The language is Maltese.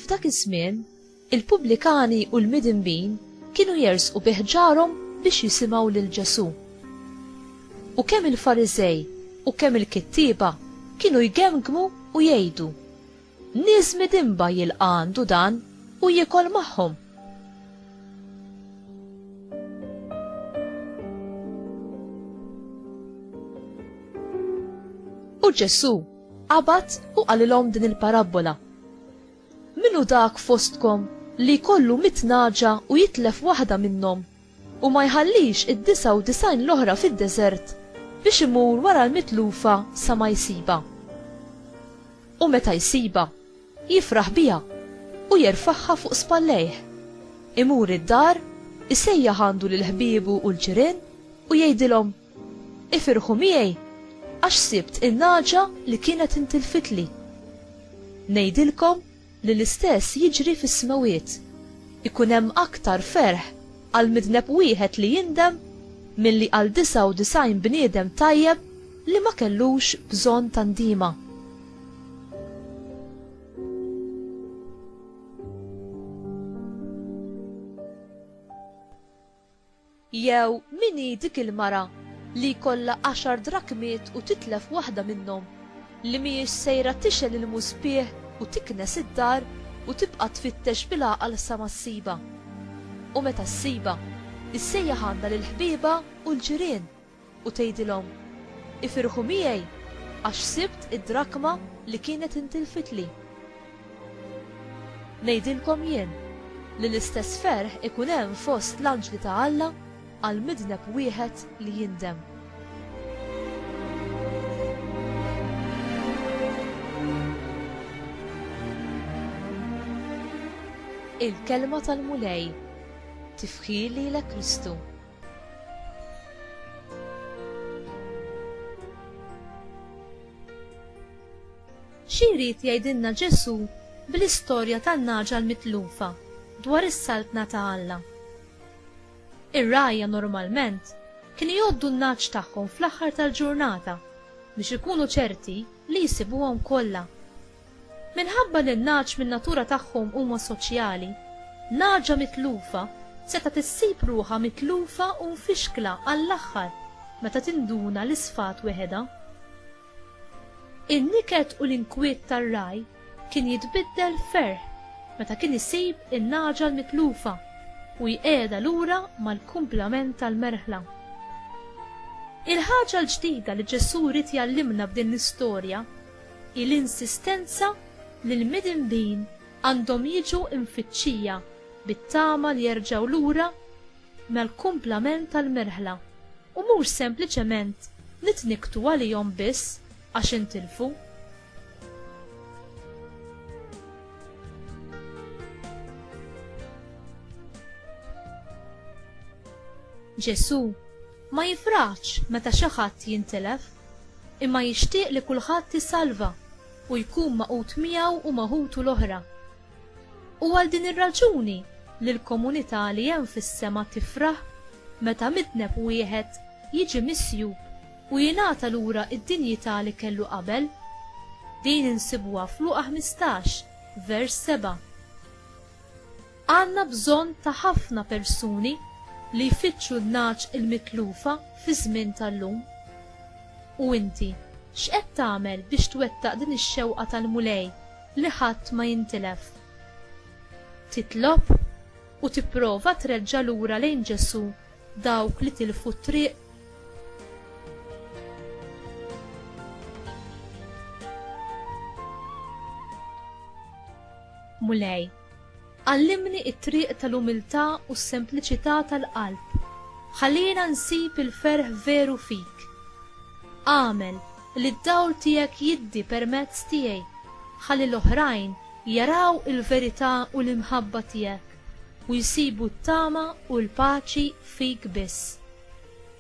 F'dak iż-żmien, il-pubblikani u l-midinbin kienu jersqu bi ħġarhom biex jisimgħu lil Ġesù. U kemm il-Fariżej u kemm il-kittieba kienu jgemgmu u jgħidu, Nies midinba jilqa' għandu dan u jiekol magħhom. U Ġesù qabad u qalilhom din il-parabbola. Min hu dak fostkom li jkollu mitt nagħġa u jitlef waħda minnhom u ma jħallix id-disgħa u disgħin l-oħra fid-deżert biex imur wara l-mitlufa sa ma jsibha. U meta jsibha, jifraħ biha u jerfagħha fuq spallejh. Imur id-dar, isejjaħ għandu lil ħbiebu u l-ġirien u jgħidilhom, Ifirħu miegħi, għax sibt in-nagħġa li kienet intilfitli. Ngħidilkom, Li l-istess jiġri fis-smewwiet. Ikun hemm aktar ferħ għal midneb wieħed li jindem milli għal 99 bniedem tajjeb li ma kellux bżonn ta' ndiema. Jew min hi dik il-mara li jkollha għaxar drakmiet u titlef waħda minnhom, li mhijiex sejra tixgħel il-muspieħ u tiknes id-dar u tibqa' tfittex bil-għaqal sa ma ssibha? U meta ssibha, issejjaħ għandha lill-ħbiebha u l-ġirien. u tgħidilhom, 'Ifirħu miegħi, għax sibt id-drakma li kienet intilfitli. Ngħidilkom jien li l-istess ferħ ikun hemm fost l-anġli ta' Alla għal midneb wieħed li jindem. Il-Kelma tal-Mulej, Tifħir lilek Kristu. Xi jrid jgħidilna Ġesù bl-istorja tan-nagħġa l-mitlufa dwar is-Saltna ta' Alla? Ir-rgħajja normalment kienu jgħoddu n-nagħaġ tagħhom fl-aħħar tal-ġurnata biex ikunu ċerti li jsibuhom kollha. Minħabba li n-nagħaġ min-natura tagħhom huma soċjali, nagħaġa mitlufa setgħet issib ruħha mitlufa u mfixkla għall-aħħar meta tinduna li sfat weħedha. In-niket u l-inkwiet tar-ragħaj kien jitbiddel f'ferħ meta kien isib in-nagħaġa l-mitlufa u jqiegħedha lura mal-kumplament tal-merħla. Il-ħaġa l-ġdida li Ġesù ried jgħallimna b'din l-istorja hi l-insistenza li l-midinbin għandhom jiġu mfittxija bit-tama li jerġgħu lura mal-kumplament tal-merħla u mhux sempliċement nitnikktu għalihom biss għax intilfu. Ġesù ma jifraħx meta xi ħadd jintilef. Imma jixtieq li kulħadd isalva u jkun magħqud miegħu u ma' ħutu l-oħra. U għal din ir-raġuni li l-komunità li hemm fis-sema tifraħ meta midneb wieħed jiġi misjub u jingħata lura d-dinjità li kellu qabel. Din insibuha f'Luqa ħmistax, vers seba'. Għandna bżonn ta' ħafna persuni li jfittxu n-nagħaġ il-mitlufa fiż-żmien tal-lum. U inti, x'qed tagħmel biex twettaq din ix-xewqa tal-Mulej li ħadd ma jintilef? Titlob u tipprova treġġa' lura lejn Ġesù dawk li tilfu t-triq? Mulej, Għallimni t-triq tal-umiltà u s-sempliċità tal-qalb. Ħallina nsib il-ferħ veru fik. Agħmel li d-dawl tiegħek jiddi permezz tiegħi ħalli l-oħrajn jaraw il-verità u l-imħabba tiegħek u jsibu t-tama u l-paċi fik biss.